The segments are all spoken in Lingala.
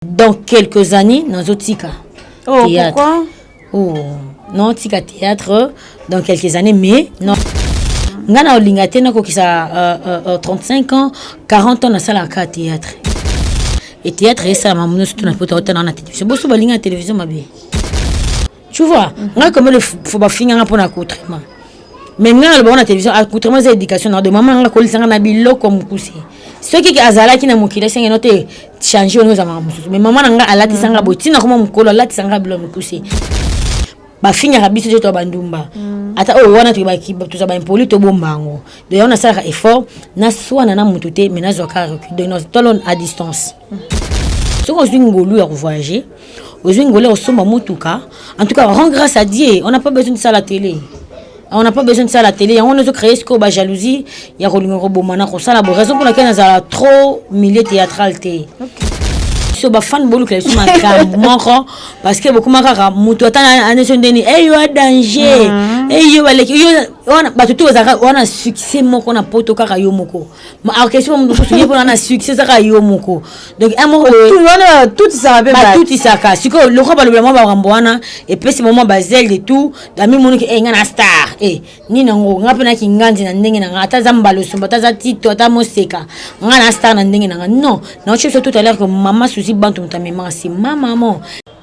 dans quelques années nazo tika oh, théâtre pourquoi? oh non tika théâtre dans quelques années mais non ngai na olinga te nakokisa uh, uh, uh, 35 ans 40 ans nasalaka théâtre e théâtre esalama mono surtout na poto auta na na télévision boso balinga na télévision mabe tu vois ngai comme le faut ba finga nga pona coutrement mais ngai na ba télévision à coutrement c'est éducation na de maman nga ko lisanga na biloko mukuse soki ki azalaki na mokili esenge no te changer ono ezamaka mosusu mais maman na nga alatisanga boye ntina koma mokolo alatisanga bilo mokuse bafingaka biso te to bandumba mm. ata oyo wana toza baimpoli tobomba yango donc yango nasalaka effort naswana na motu te mais nazwaka recul donc tolon à distance soki ozwi ngolu ya kovoyage ozwi ngolu ya kosomba motuka en tout cas rend grâce à dieu on n'a pas besoin de ça la télé on n'a pas besoin de ça la télé yango wana ezocreye sikoyo bajalousie ya kolinga koboma na kosala bo raison mpo na kei nazala trop milieu théâtral te biso bafane bolukela biso makambo moko parce que bokoma kaka moto ata aneso ndeni eyo a danger eyo baleki wana bato to bazalaka wana succès moko na poto kaka yo moko orchestre mo mosusu ye mpona na succès ezaka yo moko donc un moko batutisaka sikoyo lokola balobela mwa bakambo wana epesi bango mwa bazele de tout ami moniki e eh, nga na star e eh, nini yango nga mpe na kinganzi na ndenge na nga ata aza mbala osomba ata aza tito ata moseka nga na star na ndenge na nga non naoci biso tout à l'heure que mama susi bantu moto amemaka si mamamo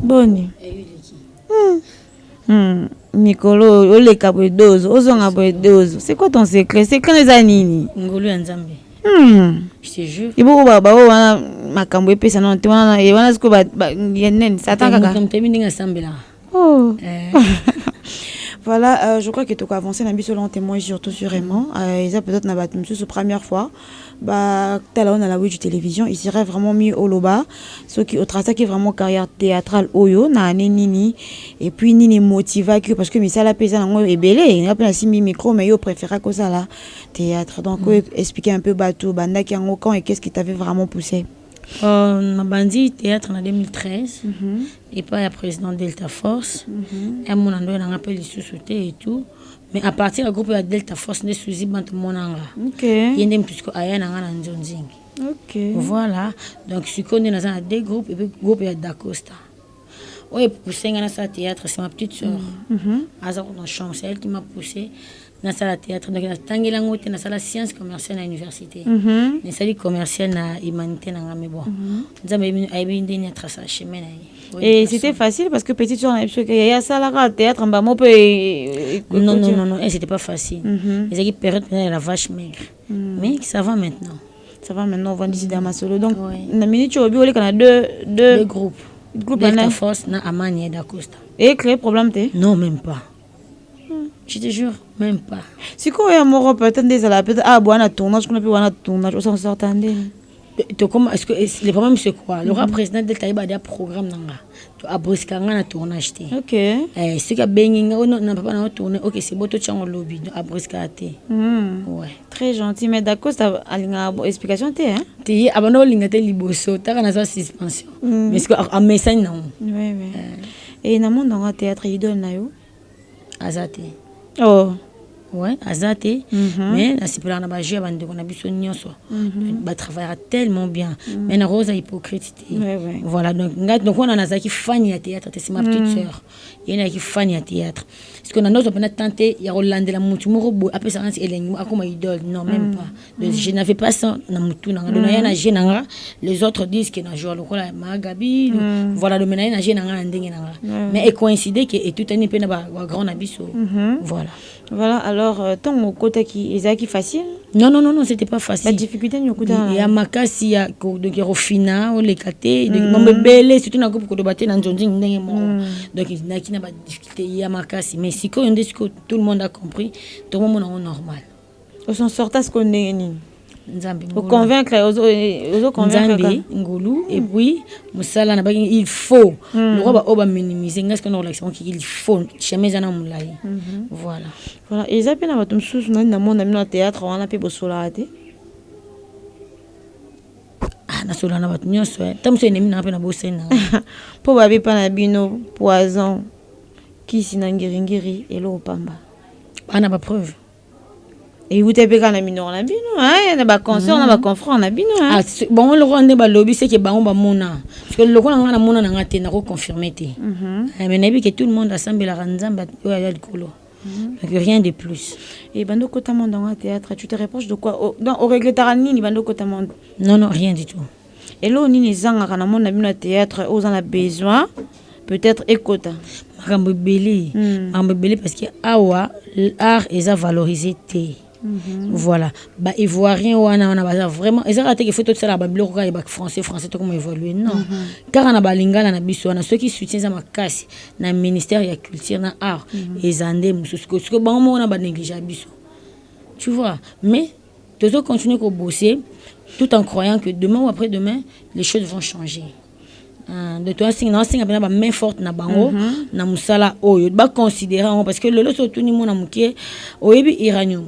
boni hmm. Hmm. mikolo oyo oleka boye dozo ozonga boye dozo c'est quoi ton secret secret na eza nini ngolu ya nzambe hmm. eboko baoyo wana makambo epesa nano te wana wana sikoyo nene satan kaka ndenge asambelaka oh. eh. Voilà, euh, je crois que tu as avancé, Nabi, selon témoin, surtout sur Raymond. Euh, ils ont peut-être une première fois. ba tala ona la wiju television il serait vraiment mieux oloba soki otrasaki vraiment carrière théâtrale oyo na année nini et puis nini motivaki parce que misala pe eza nango ebele nga pe nasimbi micro mais yo préféraki osala théâtre donc mm. expliquer un peu batu bandaki yango quand et qu'est-ce qui t'avait vraiment poussé Euh, nabandi théâtre na 2013 mm -hmm. epai ya président delta force mm -hmm. amona ndoya nanga mpe lisusu te et tout mais à partir ya groupe ya delta force nde suzi bantu monanga okay. ye nde motusiko aya nanga na nzonzingi okay. voilà donc sikoyo nde naza na deux groupe epuis groupe ya dacosta oyo epousse ngai nasala théâtre c'est ma petite sœur mm, mhm. aza kuna chambre c'est elle qui m'a poussé nasala théâtre donc natangeli yango te nasala science commerciale na université mhm. nasali commerciale na humanité na ngai mais bon mhm. nzambe ayebi ndeni atrasa chemin na ye Et c'était facile parce que petite soeur, parce que yaya salara théâtre mbamo peut. Non non non non, c'était pas facile. Mm -hmm. Ils avaient période la vache maigre. mais ça va maintenant ça va maintenant ovandisi da masolo donc na minute oyo bioleka na deux deux groupes groupe na force na amani et dacosta et créer problème te non même pas je te jure même pas sikoyo ya moko peut-être nde ezala peut-être ah bwana tournage kuna mpe wana tournage osansorta nde tokoma le problème c'est quoi lokola mhm. président delta ayeba dia programme na nga abosika nga na tournage te eh, soki abengi nga ono oh, na papa na otourne ok c'est bo totyango lobi donc abosika te mhm. ouais très gentil mais dacosta alingaka bo explication te hein te ye abanda kolinga te liboso taka naza suspension mhm. mais soki amesani nango e eh. eh, namoni nango théâtre idole na yo aza te oh. Ouais, aza te mm -hmm. mais nasepelaka na bajeu ya bandeko na biso nyonso mm -hmm. batravaillaka tellement bien mm -hmm. mais nakoki oza hypocrite te ouais, ouais. voilà donc ngai donc wana nazalaki fani ya théâtre te c'est ma petite mm -hmm. sœur ye nayaki fani ya théâtre parce que na ndoto mpena tante ya kolandela motu moko boye apesaka nsi elengi akoma idole non même mm -hmm. pas Mais je n'avais pas ça na mutu na nga donc naya na je na nga les autres disent que na joa lokola ma gabi le- voilà donc naye na je na nga na ndenge na nga mais e coïncide que etutani mpe na ba ba grand na biso voilà voilà alors euh, ntango okotaki ezalaki facile non non non non c'était pas facile badifficulté nini okutana na ya yango? makasi ya ko- donc ya kofina oleka te donc mambo ebele surtout na groupe koloba te na nzonzingi ndenge moko donc naki na badifficulté ya makasi mais sikoyo nde sikoyo tout le monde a compris tokomona yango normal o s'en sorta sikoyo ndenge nini nzambe o convaincre ozo ozo convaincre nzambe ngolu mm. et puis musala na baki il faut mm. lokola ba oba minimiser ngai sikoyo na kolakisa ngo il faut chemin eza na mulayi mm-hmm. voilà voilà eza pe na bato mosusu nani na mona bino na théâtre wana pe bosolaka te ah, nasola na bato nyonso eh. ta mosusu enemi nanga mpe na bosani nanga mpo babepa na bino poison kisi na ngiringiri eloko pamba bana bapreuve euta mpe kaka na minoko na bino eh, na baconcert na mm. baconfront na bino eh. ah, bango lokola nde balobi seke bango bamona parceke lokola ngai namona na ngai te nakoconfirme te mhm. eh, mais nayebi ke tout le monde asambelaka nzambe oyo aya likolo mhm. donc rien de plus e bando okota monde yango ya théâtre tu te reproche de quoi oh, donc oregretaka nini bando okota monde non non rien du tout Eloko nini ezangaka na monde na bino ya theatre oyo oza na besoin peut-être ekota? Makambo ebele, makambo ebele parce que awa art eza valoriser te. Voilà ba ivoirien wana wana baza vraiment eza kaka te ke faut tosalaka ba biloko kaka ya ba français français tokoma evolue non kaka na ba lingala na biso wana soki soutien eza makasi na ministère ya culture na art eza nde mosusu sikoyo bango moko na ba negligea biso tu vois mais Tozo continuer ko bosser tout en croyant que demain ou après demain les choses vont changer. Ah, donc toasenga na asenga mpena bamain forte na bango mhm. na mosala oyo baconsidere yango parce que lelo so otuni mwana moke oyebi iranium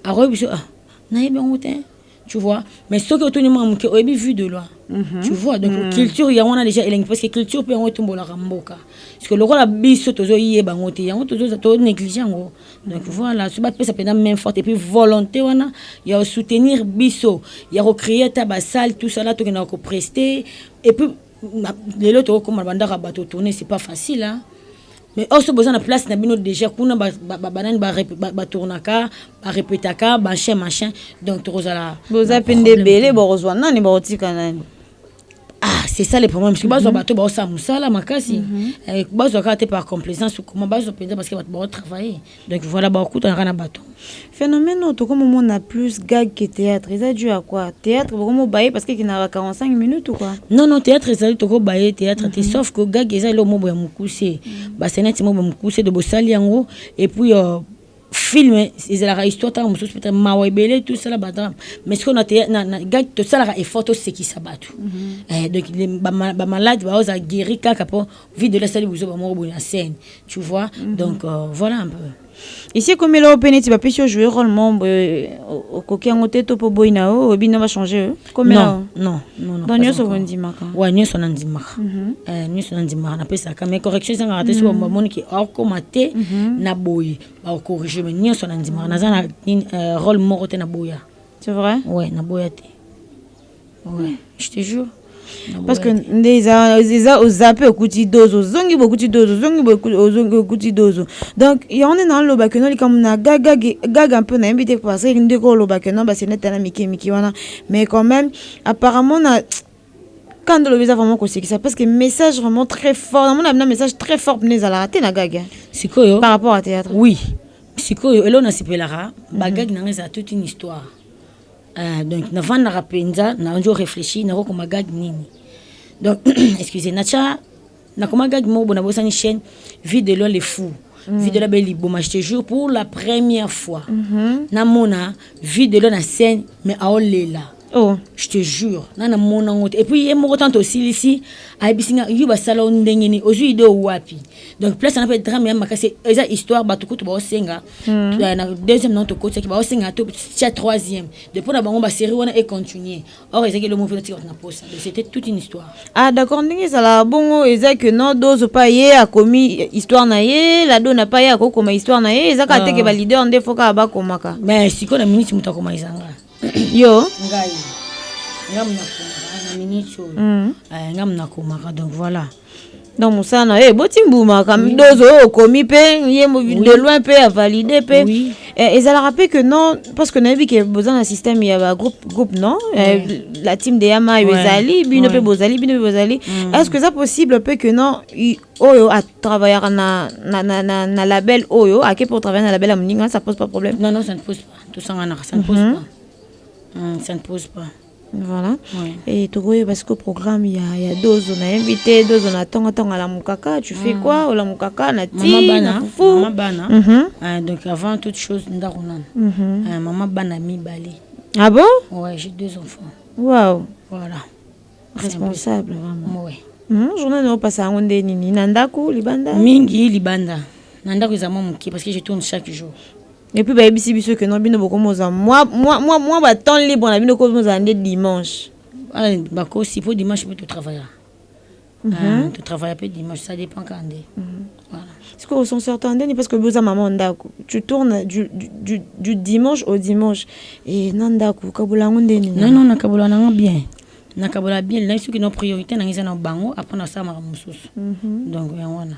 akoyebi biso ah, nayebi yango te tu vois mais soki otuni mwana moke oyebi vue de loin mhm. tu vois donc mhm. culture yango wana déjà elengi parce que culture mpe yango etombolaka mboka parce que lokola biso tozoyeba yango te yango tozo néglige yango donc voilà so bapesa mpenza main forte epuis volonté wana ya kosoutenir biso ya kocreye ata basale tout ça na tokendaka kopreste epuis lelo tokokoma na bandako ya bato tourne c'est pas facile hein? mais or so boza na place na bino déjà kuna banani batournaka barepetaka machin machin donc tokozala boza mpe nde ebele bokozwa nani bakotika nani Ah, c'est ça le problème parce que bazwa mhm. bato baosala mosala makasi mhm. eh, bazwa kaka te par complaisance comment bazwa mpenza parce que bato baotravaille donc voilà baokutanaka na bato phénomène oyo tokomomona plus gag que théâtre eza dû à quoi théâtre bokomobaye parce que ekinaka 45 minutes ou quoi non non théâtre ezali tokobaye théâtre te mhm. sauf que gag eza eloko mobo ya mokuse basenati mobo ya mokuse de bosali yango et puis euh, film ezalaka histoire ntango mosusu peut mawa ebele tosala badrame mais sikoyo na gag tosalaka effort tosekisa bato mhm. eh, donc bamalade baozala guéri kaka mpo vide ola asali buzoba moko boye na scène tu vois mhm. donc euh, voilà un peu esi ekomela yo mpe neti bapesi yo joue role mombo okoki yango te to mpo boyi na yo oyebi na bachange yo non non non non nyonso bondimaka wa nyonso nandimaka mhm. eh, nyonso nandimaka napesaka mais correction ezangaka te soki mhm. bamoni ke akoma te mhm. na boye bakocorrige mais nyonso nandimaka naza na eh, role moko te na boya c'est vrai ouais na boya te ouais je te jure parce que nde eza eza ozape okuti dozo ozongi bokuti dozo ozongi ozongi okuti dozo donc yango nde naoloba keno likambo na gagage gaga mpe nayebi te parce que ndeko oloba keno basenete na mike mike wana mais quand même apparemment na kanda olobi eza vraiment kosekisa parce que message vraiment très fort namona bina message très fort mpena ezalaka te na gage sikoyo par rapport à théâtre oui sikoyo eloo nasepelaka bagage na ngai ezala toute une histoire Ah, donc navandaka mpenza nazo reflechi nakokoma gag nini donc excuse natya nakoma gag moko bo nabosani chaîne vie de loi le fou Mm. vie de la belle liboma je te jure pour la première fois mm -hmm. namona vie de la na scène mais aolela oh. je te jure nga namona yango te epuis ye moko ntanto osilisi ayebisi nga yo basala yo ndenge nini ozwi ide wapi donc place wana mpe drame ya makasi eza histoire bato kutu baosenga Hmm. Euh, na deuxième non tokotisaki baosenga to tia troisième de mpo na bango basérie wana econtinue or ezaki elongo mpe natika bato na posa donc c'était toute une histoire ah d'accord ndenge ezala bongo eza que non dozo pa ye akomi histoire na ye lado na pa ye akokoma histoire na ye eza kaka teke ah. baleader nde fo kaka bakomaka mais sikoyo na minute moto akoma ezanga yo ngai nga munakomaka na minute oyo mm. eh, nga munakomaka donc voilà donc mosala na ye boti mbuma dozo oyo okomi mpe ye de loin mpe avalide mpe eh, ezalaka mpe que non parce que nayebi ke boza na système ya bagroupe groupe non eh, la team de yamayo ezali bino mpe bozali bino mpe bozali mm. est ce que eza possible mpe que non oyo atravaillaka na, na, na, na, na label oyo ake mpe otravaille na label ya moninga ça pose pas problème non non ça ne pose pas tosanganaka ça ne pose Mhm. pas Mm, ça ne pose pas voilà Ouais. et tokoyeba siko programme ya, ya dozo na invité dozo na tongo tongo alamukaka tu fais quoi olamukaka na mama ti na bana mama fufu bana Mhm. Ah, donc avant toute chose ndako nana Mhm. Ah, mama bana mibale ah bon ouais j'ai deux enfants wow voilà responsable vraiment ouais Mhm, journée na opasa yango nde nini na ndako libanda mingi libanda na ndako eza mwa moke parce que je tourne chaque jour Et puis bayebisi biso que non bino bokomi oza mwa mwa mwa mwa ba temps libre na bino komi ozala nde dimanche ah, bakosi mpo dimanche mpe totravaillaka mm -hmm. ah, mhm. totravaillaka mpe dimanche ça dépend kaka nde mm -hmm. voilà. sikoyo osonsorta ndeni parce que boza mama ndako tu tourne du, du, du, du dimanche au dimanche e na ndako kabola yango ndeni non non nakabola nango bien nakabola bien nayebi soki no priorité nango eza na bango apres nasalamaka mosusu mhm. donc yango wana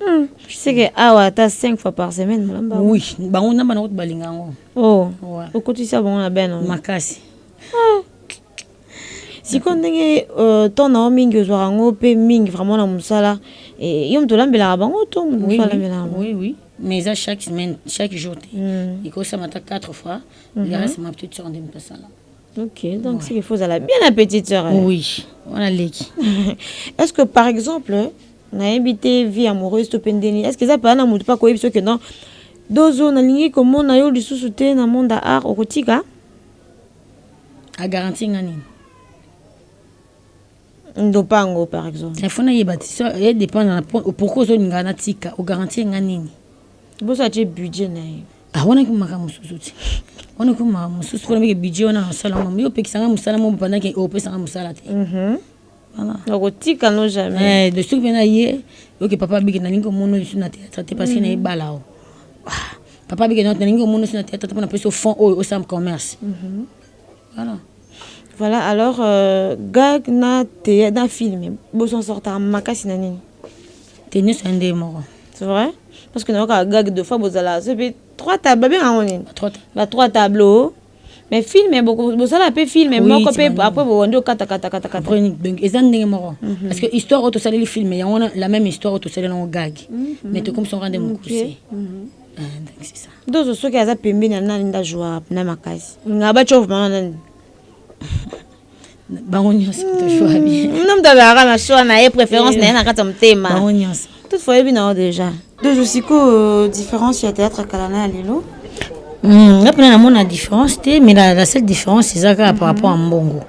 Hmm, seke awa ata 5 fois par semaine molamba oui bango namba na kutu balinga yango oh okotisa bango na bana makasi ah. sikoyo ndenge euh, temps na yo mingi ozwaka yango mpe mingi vraiment na mosala eh, yo moto olambelaka bango to moto mosusu alambelaka bango oui oui mais eza chaque semaine chaque jour te hmm. ekosama ata 4 fois mhm. le reste ma petite soeur nde moto asala ok donc ouais. seke fo ozala bien la petite soeur eh? oui wana leki est ce que par exemple Nayebi te vie amoureuse to pe ndeni. Est-ce que eza paya na mutu pe akoyebisa yo que non Dozo nalingi komona yo lisusu te na monde ya art okotika? A garantir nga nini? Ndopango par exemple. Il faut nayeba ti so e dépend na pourquoi ozolinga natika o garantir nga nini? Boso atie budget na ye. Ah wana ki makambo mosusu ti. Wana ki makambo mosusu pona meke budget wana nasala ngo yo opekisa nga mosala mo pendant que opesa nga mosala te. nakotika no jamais eh, soki pena ye oke papa biki nalingi komono lisu na théâtre te parce que na ebala o ah, papa biki nalingi komono lisu na théâtre te pona peso fond oyo osam commerce mhm. voilà voilà alors euh, gag na théâtre na film boson sortaka makasi na nini te nyonso ya ndeye moko c'est vrai parce que nayokaka gag de fois bozala soki trois table babengaka yango nini ba trois tableau mais film bosala pe film moko pe après bowandi okata kata kata kata chronique donc eza ndenge moko mhm. parce que histoire oyo tosaleli film yango wana la même histoire oyo tosaleli yango gagi mhm. mais tokomisa yango nde mokuse mhm. ah, dozo soki aza pembeni ya nani nda joa na makasi nga bacof mama nani bango nyonso toshwa bien hmm, nomi tozalaka na shwa na ye préférence na ye na kati ya motema bango nyonso toutefois oyebi na yo déjà dozo sikoyo différence ya théâtre ya kala na ya lelo hmm, nga mpena namona différence te mais la seule différence eza kaka par rapport ya mbongo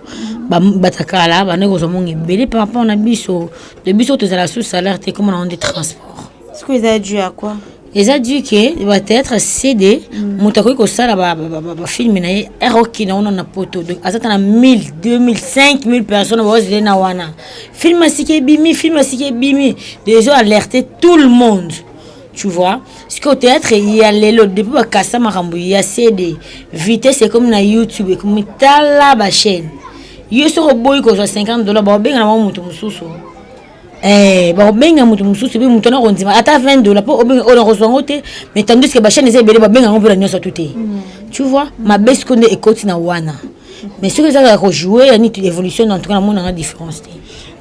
batakala bande kozwa mbongo ebele par rapport na biso de biso tozala sous salaire te koma na yango nde transport sikoyo eza due ya quoi eza du ke peut-être cd mm. moto akoki kosala bafilme na ye r oki na wana na poto donc aza ta na 1000 2000 5000 personnes baozele na wana film asiki ebimi film asiki ebimi dezo alerte tout le monde tu vois sikoyo théâtre ya lelo depuis bakasa makambo ya cd vitesse ekomi na youtube ekomi tala bachaîne yo soki oboyi kozwa 50 dollar baobenga na bango moto mosusu Eh, bakobenga moto mosusu epe moto anakondima ata 20 dola mpo obenga oyo nakozwa yango te mais tandis ke bachaine eza ebele babenga yango mpo na nyonso tu te mm. tu vois mabe siko nde ekoti na wana mais soki ezaka ya kojoue ya niti évolution en tout cas namonanga différence te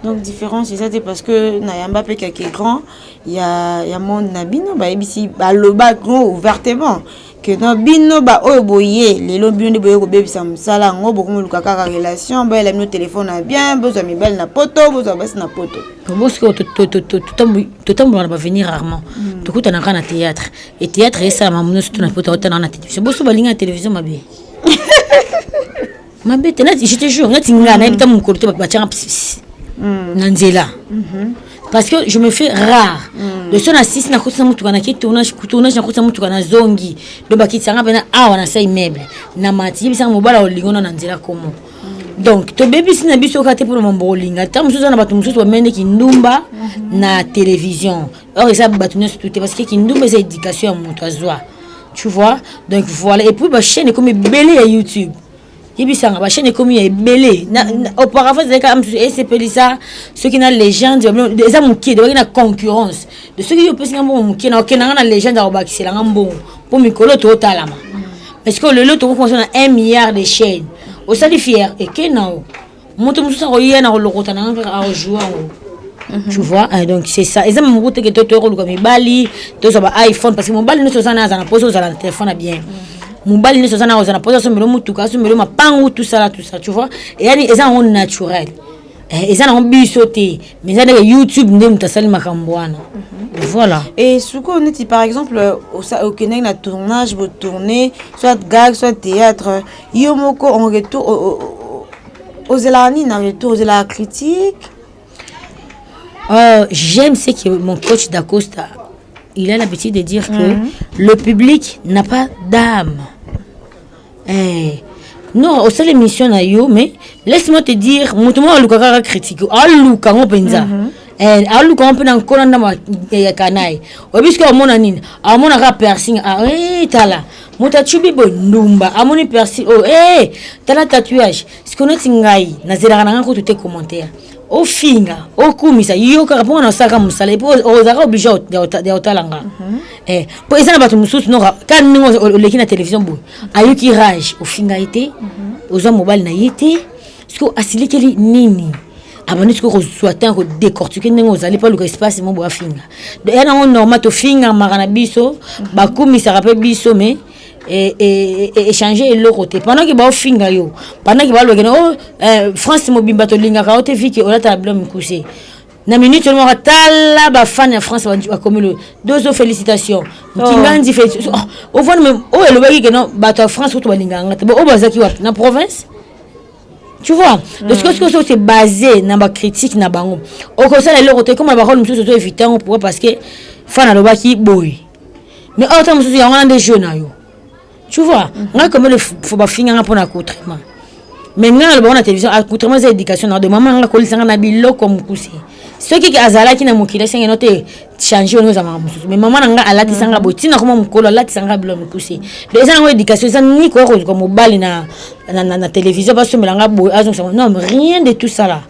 donc différence eza te parce que nayamba mpe kake grand ya, ya monde na bino bayebisi baloba grand ouvertement que non bino ba oyo boye lelo bino nde boye kobebisa mosala yango bokomoluka kaka relation bayela bino telefone ya bien bozwa mibali na poto bozwa basi na poto bosiko totambola na bavenir rarement hmm. tokutana kaka na théâtre e théâtre esalama mino surtout na poto aotana na télévision boso balingi na télévision mabe mabe te je te jure neti nga nayebi ta mokolo te batianga mm. na nzela mhm. parce que je me fais rare mm. le son asisi nakotisa motuka nake tournage tournage nakotisa motuka na zongi do bakitisanga mpena awa na sai meuble na mati yebisanga mobala olingo na na nzela komo mm. donc tobebisi na biso kaka te mpona mambo olinga ntango mosusu aza na bato mosusu bamende kindumba mhm. na télévision or eza bato nyonso tu te parce que kindumba eza éducation ya moto azwa tu vois donc voilà et puis bachaîne ekomi ebele ya youtube yebisanga bachaîne ekomi ya ebele auparavant ezalaki kaka mosusu esepelisa soki na legende eza moke debaki na concurrence de soki yo opesi nga mbongo moke na okenda nga na legende akobakisela nga mbongo mpo mikolo totalama parce que lelo tokokosa na 1 milliard de chaîne osali fier eke nao moto mosusu akoya na kolokota na nga kaka akojoue yango mhm. tu vois eh, donc c'est ça eza mamoku teke to toya koluka mibali tozwa ba iphone parce que mobali nyonso oza na aza na mposa ozala na telefone ya bien mhm. mobali nyonso oza na ozala na mposa asombelo motuka asombelo mapangu tout ça la tout ça tu vois yani eza yango naturel eh, eza nango biso te mais eza ndeke youtube nde moto asali makambo wana mhm. voilà et sikoyo neti par exemple okendaki na tournage botourne soit gag soit théâtre Yo moko en retour ozelaka nini na retour ozelaka critique euh, j'aime ce que mon coach dacosta il a l'habitude de dire que mm -hmm. le public n'a pas d'âme eh, non osala émission na yo mais laisse-moi te dire moto moko alukaka kaka critique aluka yango mpenza mm -hmm. Eh, aluka mpe na nkona ndambo ya kanaye oyebi soki amona nini amona kaka piercing ah, eh, tala moto acubi boye ndumba amoni persi oyo oh, ee eh, tala tatouage siko neti ngai nazelaka na ngai kutu te commentaire ofinga okumisa yo kaka mpo wana osalaka mosala epo ozalaka oblige ya otala nga mhm. eh, mpo eza na bato mosusu noka ka ndenge oleki na télévision boye ayoki rage ofinga ye te mhm. oza mobali na ye te sikoyo asilikeli nini abandi sikoyo kozwa temps kodecortike ndenge ozali mpo aluka espace mo boafinga ya nango normal tofingamaka na biso bakumisaka mpe biso mais e, e, e, échange eloko te pendant ke baofinga yo pendant ke balobake na o eh, france mobimba tolingaka yo te vike olatala bilo mikuse na minute oyo moko tala bafane ya france bakomi lo dozo félicitation nkinganzi oh. félicitation ovandi oh, oyo elobaki keno bato ya france kutu balingaka nga te bo oyo bazalaki wapi na province tu vois mm. donc sikoyo sikoyo se base na bacritique na bango okosala eloko te ekoma na barole mosusu ozo évite yango pourquoi parce que fana alobaki boye mais oyo ntango mosusu yango wana nde jeu na yo tu vois mm. ngai komele fo bafinganga mpo na accoutrement mais ngai naloba ngo na télévision accoutrement eza éducation na de mama nanga kolisanga na biloko mokuse soki ke azalaki na mokili esenge no te change ono ezalaka mosusu mais mama na ngai alatisa ngai boye ntina koma mokolo alatisa ngai bilo mikuse donc eza nango éducation eza nini koya koluka mobali na, na, na, na télévision basombela ngai boye azongisa non rien de tout ça là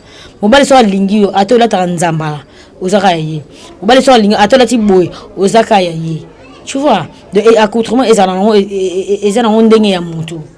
mobali soki alingi yo ata olataka nzambala ozaka ya ye mobali soki alingi ata olati boye ozaka ya ye tu vois donc accoutrement ezala nango eza nango ndenge ya motu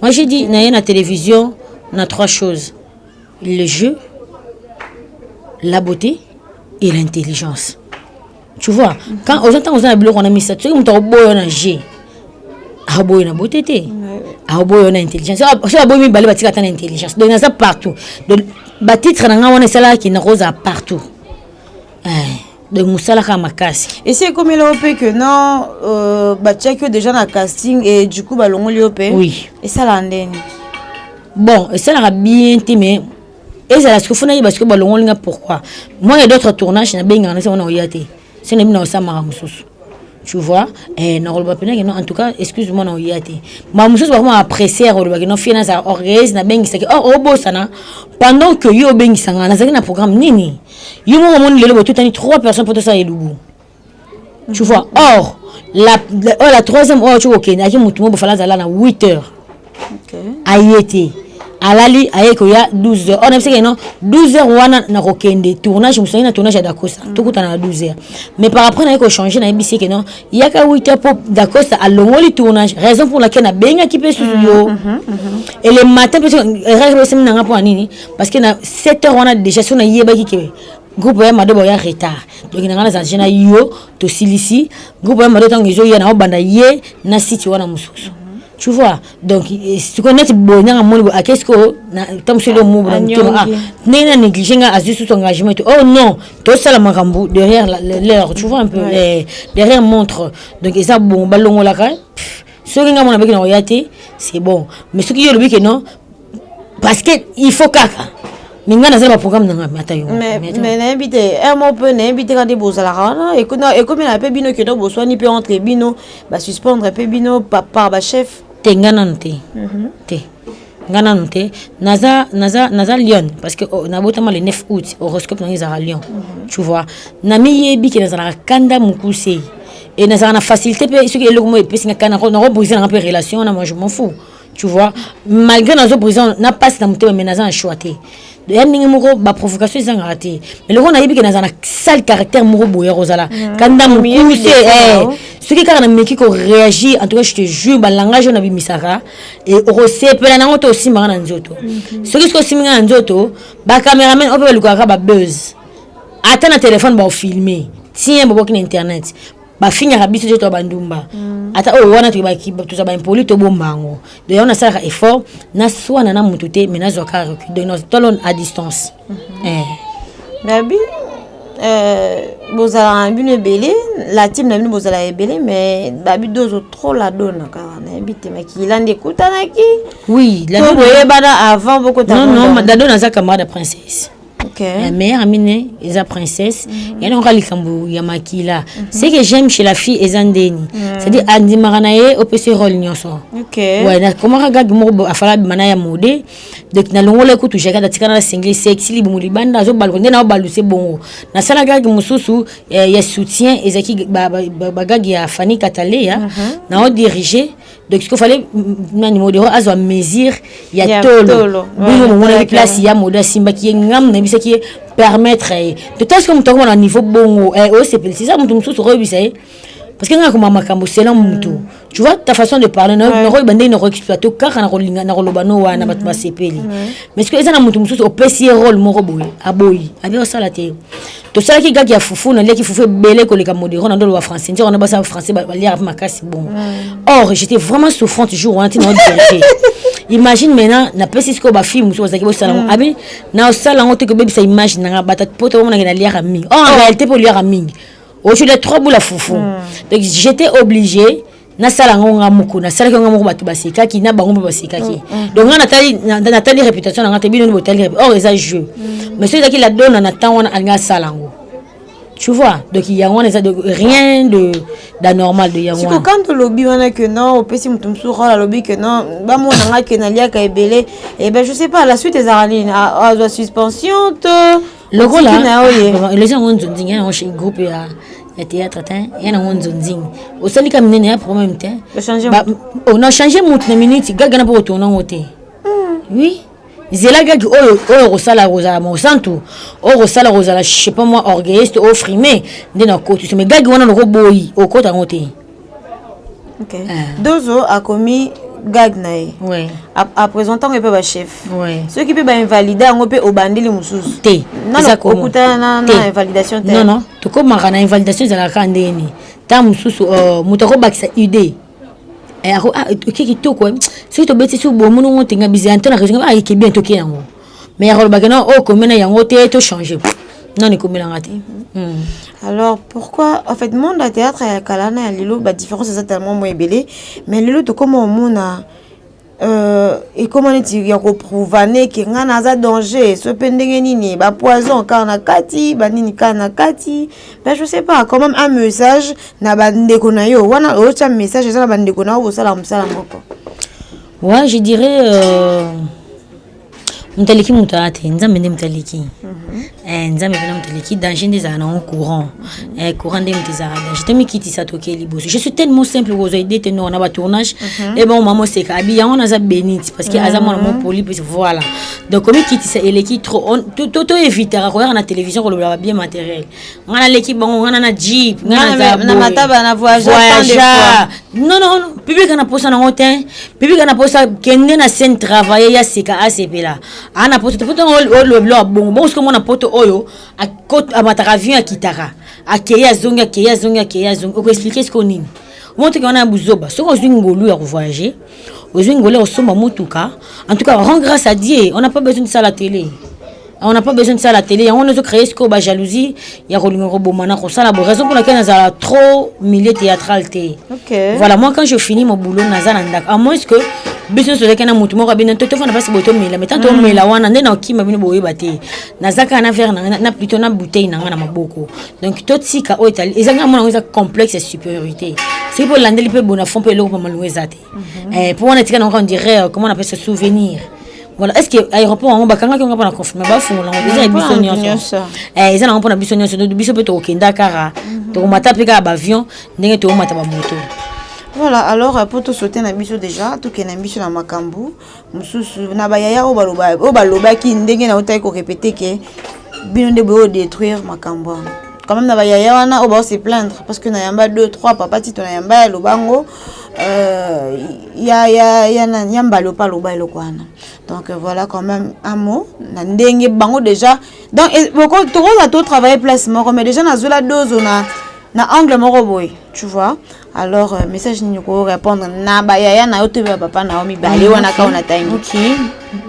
Moi j'ai dit naye na television na trois choses le jeu la beauté et l'intelligence tu vois quand oza ntango oza na biloko wana misato soki moto akoboyo na jeu akoboyo na beauté te akoboyo na intelligence soki aboyi mibale batika ata na intelligence donc naza partout donc batitre na ngai wana esalaki nakozala partout Eh, donc mosala kaka makasi esi ekomela yo mpe que non euh, batiaki yo déjà na casting et du coup balongoli yo mpe oui esalaka ndeni bon esalaka bien te mais ezala sikoyo fo nayeba sikoyo balongoli nga pourquoi moi ya d'autres tournage nabengaka nasi yango nakoya te soki nayebi nakosa maka mosusu tu vois eh, nakoloba mpenaki non en tout cas excuse moi naoya te ma mosusu bakoma apprécier olobaki non fie nazala orgueilleuse nabengisaki or obosana pendant que yo obengisanga nazalaki na programme nini yo moko omoni lelo botutani trois personnes mpo tosala elubu tu vois or la, la, oh, la troisième oyo ocoki kokende ayaki motu moko bofala azala na 8 heures okay. aye te alali aye koya 12 heures or nayebisaki non 12 heures wana nakokende tournage mosusu na tournage ya dacosta mm. tokutana na 12 heures mais par après naye kochange nayebisi eke non yaka 8 heures mpo dacosta alongoli tournage raison pour laquelle nabengaki mpe susu yo mm, mm, mm, et le matin mpe erakaki bosemi na nga mpo na nini parce que na 7 heures wana déjà so nayebaki ke groupe ya mado baoya retard donc na ngai nazalaki na yo tosilisi groupe ya mado ntango ezoya na obanda ye na site wana mosusu tu vois donc eh, sikoyo neti boye nanga moni boye ake sikoyo ntango soki omobo na motema ah, ndenge na néglige nga azwi susu engagement ete oh non tosala makambo derrière l'heure tu vois un peu eh, derrière montre donc eza bongo balongolaka soki nga mona beki na koya te c'est bon mais soki yo olobi ke non parce que il faut kaka mais ngai naza na baprogramme nanga mata yo mais nayebi te un mot mpe nayebi te kande bozalaka wana ekomela mpe bino keno boswani mpe entre bino basuspendre mpe bino par bachef te ngai nanu te mhm. te nga nanu te naza naza naza lion parce que oh, nabotama le 9 août horoscope nangai ezalaka lion mhm. tu vois namiyebi ke nazalaka kanda mokuse e nazalaka na facilité mpe soki eloko moko epesi nga kana nakobrise nanga mpe relation wana moi je m'en fous tu vois malgré nazo prison na pasi na motema mais naza na choix te ya ndenge moko baprovocation ezangaka te eloko nayebi ke naza na sale caractère moko boye ya kozala ah, kanda mokuse eh. soki kaka nameki koréagir en tout cas je te jure balangage oyo nabimisaka eh, okosepela nango to osimbaka na nzoto mhm. soki soki osimbi nga na nzoto bacameraman oyo mpe balukaka babuzz ata na telefone baofilme tien boboki na internet bafingaka biso te toya bandumba mm. ata oyo wana toza baimpoli tobomba yango donc yango nasalaka effort naswana na motu te mais nazwa kaka recul donc natolon à distance mhm. eh. gabi euh, bozalaka na bino ebele la team na bino bozalaka ebele mais babi dozo trop la dona kaka nayebi te makila nde ekutanaki oui boyebana avant bokotadadona aza camarade ya princesse Okay. La mère amine eza princesse mm -hmm. yana oka likambo ya makila mm -hmm. ce que j'aime chez la fille eza ndeni mm -hmm. c'est à dire andimaka na ye opesi role nyonso okay. ouais, nakomaka gage moko afala abima na ya mode donc nalongola kutu jakada atikana na singli sexi libumu libanda azobaluka nde nao baluse bongo nasala gage mosusu eh, ya soutien ezalaki bagage ba, ba, ba ya fani kataleya mm -hmm. nao dirige donc sikoyo fale nani modero azwa mesure ya, ya tolo bongo momonaki place ya modo asimbaki ye ngamu nayebisaki ye permettre ye to ntango sikoyo moto akoma na niveau bongo eh, osepelisi eza moto mosusu okoyebisa ye parce que ngaka koma makambo selon motu mm. tu vois ta façon de parler nakoyeba ndenge nakoexploite kaka nakolinga nakoloba no wana bato mm. basepeli mais sikoyo eza na moto mosusu opesi ye role moko boye aboyi abi osala te tosalaki gaki ya fufu naliaki fufu ebele koleka modero na ndoloba français nzoko na basala français baliaka mpe makasi bongo mm. or j'étais vraiment souffrante jour wana ntina odete imagine maintenant napesi sikoyo bafille mosusu bazalaki bosala yango mm. abi naosala yango te kobebisa image na nga bata po tobamonaki naliaka mingi or en oh. réalité mpe oliaka mingi ocolia trois boula fufu mm. donc j'étais obligé nasala yango nga moko nasalaki yango moko bato basekaki na bango mpe basekaki mm, mm. donc nga natali natali réputation na nga te bino nde botali or eza jeu mm. mais soki ezalaki la dona na temps wana alingi asala yango tu vois donc yango wana eza de rien de d'anormal de yango wana quand olobi wana que non opesi moto mosusu role alobi que non bamona nga ke naliaka ebele e eh ben je sais pas la suite ezalaka nini azwa ah, ah, suspension to lokola elezi yango nzonzingi ya yango chez groupe ya ya théâtre te ya nango nzonzingi osali ka minene ya problème te on a changé motu na minute gaga na mpo kotourna yango te hmm. oui zela gagi oyo oyo okosala kozala mosantu oyo okosala kozala je sais pas moi orgueilliste oyo frime nde na kotiso mais gagi wana nokoboyi okota yango te okay. Eh. dozo akomi gag na ye oui. apresente yango mpe bachef oui. soki mpe bainvalide yango mpe obandeli mosusu te okutana na invalidation te nono tokomaka na invalidation ezalaka kaka ndenge nini ntango mosusu euh, moto akobakisa idée eh, ah, oke kitoko eh. soki tobeti so bomonongo ntenga bizanto na région ayekebi ah, toke yango mais ya koloba kena oyo ekomi na yango te to change nani ekomelanga te hmm. alors pourquoi en fait monde ya théâtre ya kala na ya lelo badiférence eza tellement mo ebele mais lelo tokoma omona Euh, ekoma neti ya koprovane ke ngai naza danger so mpe ndenge nini bapoison kaka na kati banini kaka na kati mais je sais pas quand même un message na bandeko na yo wana oyotya message eza na bandeko na yo bosala mosala moko ouais je dirais euh... moto aleki moto aya te nzambe nde moto aleki mhm. eh, nzambe mpena moto aleki danger nde ezala nango courant eh, courant nde moto ezala danger tomikitisa tokei liboso je suis tellement simple kozwa ide te nor na batournage mhm. e eh, bango mama oseka abi yango naza benite parce que aza mwana mhm. mopoli plus voilà donc komikitisa eleki trop toevitaka koyaka na télévision kolobelaka bien matériel nga naleki bango nga na na jeep nga na mataba na voyageur non non public ana posa nango te public ana posa kende na scène travailler ya sika asepela ana posa te poto oloba biloko ya bongo bongo soki omona poto oyo amataka avion akitaka akei azongi akei azongi akei azongi okoexplike sikoyo nini omotoki wana ya buzoba soki ozwi ngolu ya kovoyage ozwi ngole osomba motuka en tout cas rend grâce à dieu on n'a pas besoin de ça la télé on n'a pas besoin de ça la télé yango wana ezocreye sikoyo bajalousie ya kolinga koboma na kosala bo raison mpona ke nazala trop milieu théâtral te okay. voilà moi quand je finis mon boulot naza na ndako à moins que biso nyonso ozalaki na motu moko abino to tofanda mpasi boye tomela mai ntango tomela wana nde nakima bino boyeba te naza kaka na vere na ngai na plutot na bouteille na ngai na maboko donc totika oyo etali eza ngai mona eza complexe ya supériorité soki mpe olandeli mpe bonafon mpe eloko bamalongo eza te mhm. eh, mpo wana etika nango on dirait euh, comment on appelle ce souvenir voilà est ce que aéroport yango bakangaki yango mpona confirme bafungola yango eza ya biso nyonso eh, eza nango mpona biso nyonso biso mpe tokokenda kaka mhm. tokomata mpe kaka baavion ndenge tokomata bamoto voilà alors mpo euh, tosote na biso déjà tokende na biso na makambo mosusu na bayaya oyo balobaki oyo balobaki ndenge nautaki korepete ke bino nde boyo détruire makambo yango quand même na bayaya wana oyo baose plaindre parce que nayamba 2 3 papa tito nayamba ya lobango euh, ya, ya, ya, ya, ya mbali opa aloba eloko wana donc euh, voilà quand même un mot na ndenge bango déjà donc tokozala to travailler place moko mais déjà nazwela dozo na na angle moko boye tu vois alors euh, message nini ko répondre na ba yaya na yo to ba papa na yo mibale wana ka ona tangi okay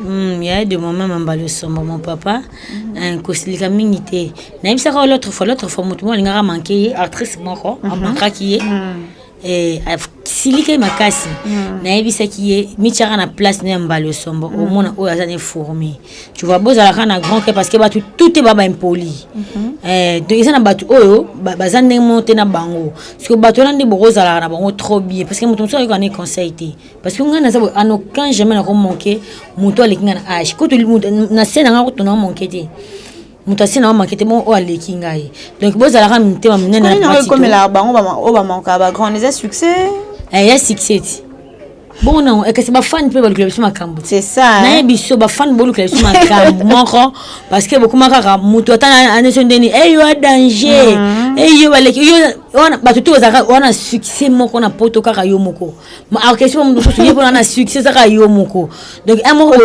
mm, yaya de maman mambali osomba mon papa mm. euh, kosilika mingi te nayebisaka l'autre fois l'autre fois motu moko alingaka manke ye actrice moko mhm. amankaki ye mm. eh, asilika ye makasi mm. nayebisaki ye mityaka na place na ya mbali osombo mm. omona oyo aza ne fourmi tu vois bozala kaka na grand cœur parce que bato tout te ba baimpoli mhm. eh, donc eza na bato oyo baza ndenge moko te na bango parce que bato wana nde bokozalaka na bango trop bien parce que moto mosusu ayoka ne conseil te parce que ngai naza boye en aucun jamais nakomanke moto aleki ngai na age kutu na se na ngai kutu na manke te moto asi na omake te bongo oyo aleki ngai donc bozalaka mitema minene ekomelaka bango oyo bamanka bagrand eza succès eh, ya succès ti bongo nango eh, kasi bafani mpe balukela biso makambo naye biso bafani bolukela biso makambo moko parce que bokoma kaka moto ata aneso ndeni eyo eh, a danger eyo mm-hmm. baleki wana bato te ozalaka wana succès moko na poto kaka yo moko orchestre mo mosusu ye mpona na succès ezaka yo moko donc un moko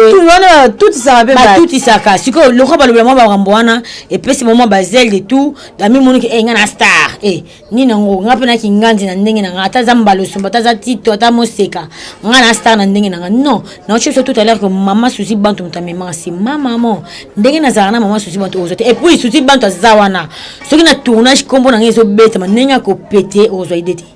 batutisaka sikoyo lokola balobela mwa bakambo wana epesi bango mwa bazele de tout ami moniki e eh, nga na star e eh, nini yango nga mpe na kinganzi na ndenge na nga ata aza mbala osomba ata aza tito ata moseka nga na star na ndenge na nga non naoci biso tout à l'heure que mama susi bantu moto amemaka si mama mo ndenge nazalaka na mama susi bantu ozwa te epuis susi bantu aza wana soki na tournage nkombo na nga ezobetama ndenge akopete ozwa ide te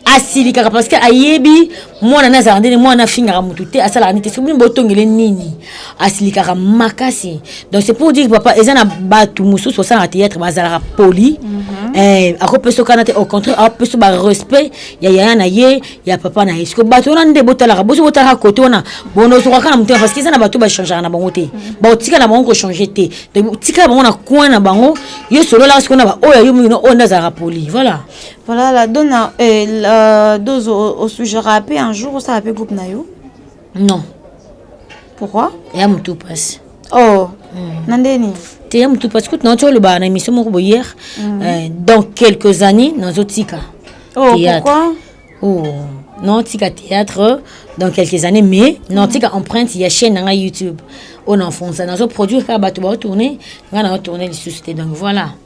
asilikaka parce que ayebi mwana na azalaka ndene mwana afingaka motu te asalaka nini te soki bino botongele nini asilikaka makasi donc c'est pour dire papa eza na bato mosusu basalaka théâtre bazalaka poli mm -hmm. eh, akopesa okana te au contraire apesa barespect ya yaya na ye ya papa na ye siko bato wana nde botalaka boso botalaka kote wana bonozokaka na motema parce que eza na bato bachangaka na bango te mhm. bakotika na bango kochange te donc tikala bango na coin na bango yo sololaka sikoyo na baoyo yo mingi no oyo nde azalaka poli voilà Voilà la dona eh, la dose au sujet rapé un jour au sarapé groupe nayo. Non. Pourquoi? Ya mutu passe. Oh. Mm. Nandeni. Te ya mutu passe kutu na ocho le ba na émission moko hier. Mm. Euh, dans quelques années na zotika. Oh théâtre. pourquoi? Oh. Non tika théâtre dans quelques années mais non mm. tika empreinte ya chaîne na YouTube. On enfonce na zo produire ka bato ba tourner, nga na tourner les sociétés donc voilà.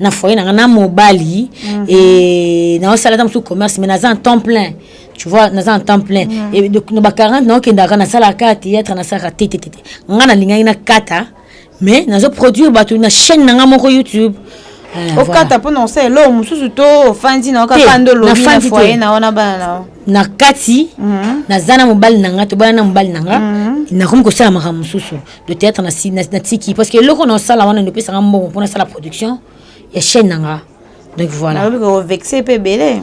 na foyer na nga na mobali mm -hmm. e naosala ata mosusu commerce mais naza en temps plein tu vois naza en temps plein mm -hmm. e, na ba 40 naokendaka nasalaka théâtre nasalaka te te te te nga nalingaki nakata mais nazo produire bato na chaîne na nga moko youtube Eh, okata mpo na osala eloko mosusu to ofandi na okaka nde olobi na foye na wana bana na yo na kati mhm. naza na mobali na nga tobala na mobali na nga mhm. nakomi kosala makambo mosusu le théâtre na si na tiki parce que eloko na sala wana ndopesa nga mbongo pona sala production ya chaîne nanga donc voilà na ko vexer pe belé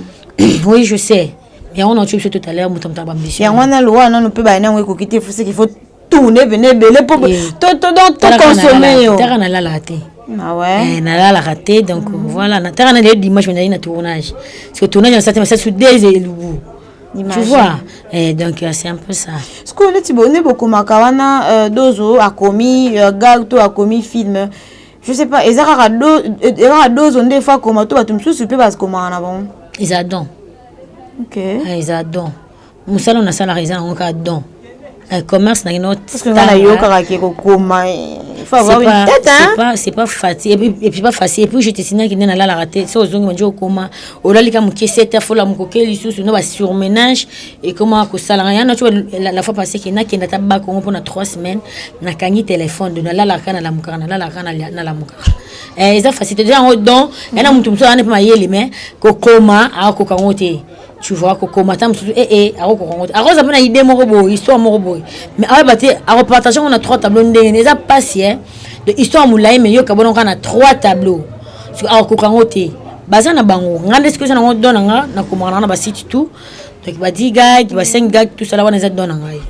oui je sais mais on a tué tout à l'heure mutamta ba mission ya wana lo wana no pe ba na ngwe ko kite faut ce qu'il faut tout ne venez belé pour to to donc to consommer yo tara na lala te Ah ouais. Eh, nalalaka te donc mm -hmm. voilà nataka na lelo dimanche nazali na tournage parce que tournage nasati masasi sur deux elubu Tu vois eh, donc euh, c'est un peu ça. Ce que neti bo ne bokomaka wana euh, dozo akomi euh, gag to akomi film. Je sais pas eza kaka do eza dozo nde fa koma to bato mosusu mpe bakomaka na bango. Eza don. OK. Ah, eza don. Mosala nasalaka eza nango kaka don. Eh, commerce na kino nayokaka ke kokoma eh, c'est pas facile et puis pas facile et puis je te signale que nena lalaka te so ozongi manje okoma olali ka moke 7 heures fola mokoke lisusu no ba surmenage et comment ko sala ya na tu la fois passée que na kenda ta ba kongo pona 3 semaines na kangi téléphone de na lalaka na la mukaka na lalaka na na la mukaka eh eza facile déjà en don yana mutu mutu ana pe mayele mais kokoma akoka ngote tu vois kokoma ata mosusu ee eh, eh, akokoka yango te akozala mpe na idée moko boye histoire moko boye mais ayeba te akopartage yango na trois tableau ndenge ne eza mpasi e de histoire molai mai yoka bona kaka na trois tableau soki akokoka yango te baza na bango ngai nde soki eza nango don na ngai nakomaka nango na basite tout donc badi gag basengi gag tout sala wana eza don na ngai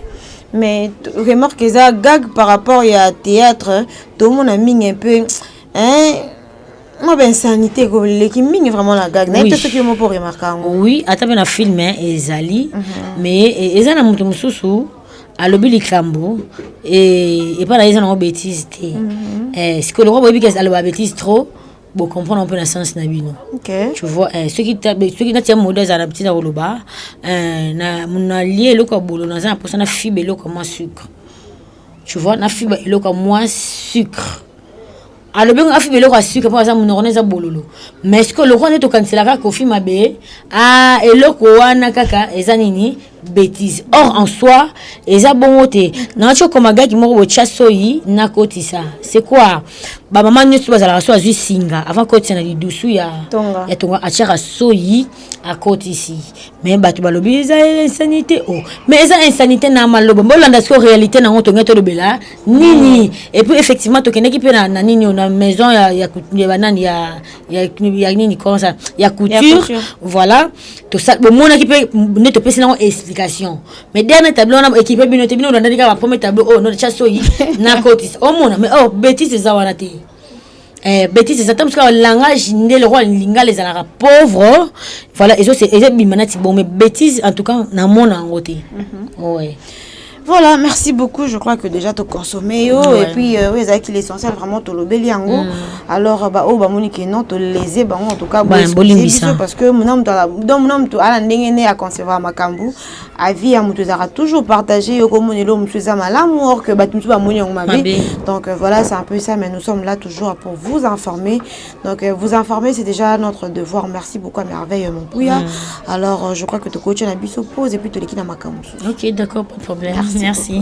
mais remarque eza gag par rapport ya théâtre tomona mingi un peu hein moi ba insanité ekoleki mingi vraiment na gag nayebi te soki yo moko oremarke yango oui ata mpe na film ezali mhm. mais e, eza na moto mosusu alobi likambo e, epai na ye eza nango bétise te mhm. eh, sikoyo lokola boyebi ke aloba bétise trop bocomprendre mpe na sens na bino tu vois eh, soki natia mode azala na ntina koloba eh, nalie eloko ya bolo naza na mposa na fibe eloko ya mwa sucre tu vois na fibe eloko ya mwa sucre alobi ngo afi biloko ya suka mpo aza monoko na eza bololo mais sikoyo lokola nde tokanisela kaka kofi mabe a eloko wana kaka eza nini bétise or en soi eza bongo te nayaki okoma gaki moko botya soyi nakotisa c'est quoi bamama nyonso bazalaka so azwi singa avant kotisa na lidusu ya tonga, ya tonga atyaka soyi akotisi mais bato balobi eza insanité o oh. mais eza insanité na maloba bolanda sikoyo réalité nango tongai tolobela nini et puis effectivement tokendeki mpe na, na nini oyo na maison ya, ya, ya banani ya, ya, ya nini comment ça ya couture couture. voilà tosa- bomonaki mpe nde topesi nango explication mais dernier tableau wana ekipe bino te bino olandaki kaka bapremier tableau oyo notya soyi nakotisa omona mais or betise eza wana te Eh, betise eza ntango mosuka langage nde lokola lingala ezalaka pauvre voilà ezobima nati bon mais betise en tout cas namona yango te mhm. ouais. voilà merci beaucoup je crois que déjà toconsomme yo ouais. et puis euh, oyo ezalaki l'essentiel vraiment tolobeli yango mm. alors euh, baoyo oh, bamoni ke non tolese bango en tout cas bolimbisa parce que mona moto ala ndenge nde aconcevoir makambo avis ya moto ezalaka toujours partager yo komona eloko mosusu eza malamu or que bato mosusu bamoni yango mabe donc euh, voilà c'est un peu ça mais nous sommes là toujours pour vous informer donc euh, vous informer c'est déjà notre devoir merci beaucoup à merveille mon pouya mm. alors euh, je crois que tokotia na biso pose et puis toleki na makambo mosusu ok d'accord pas de problème merci, merci.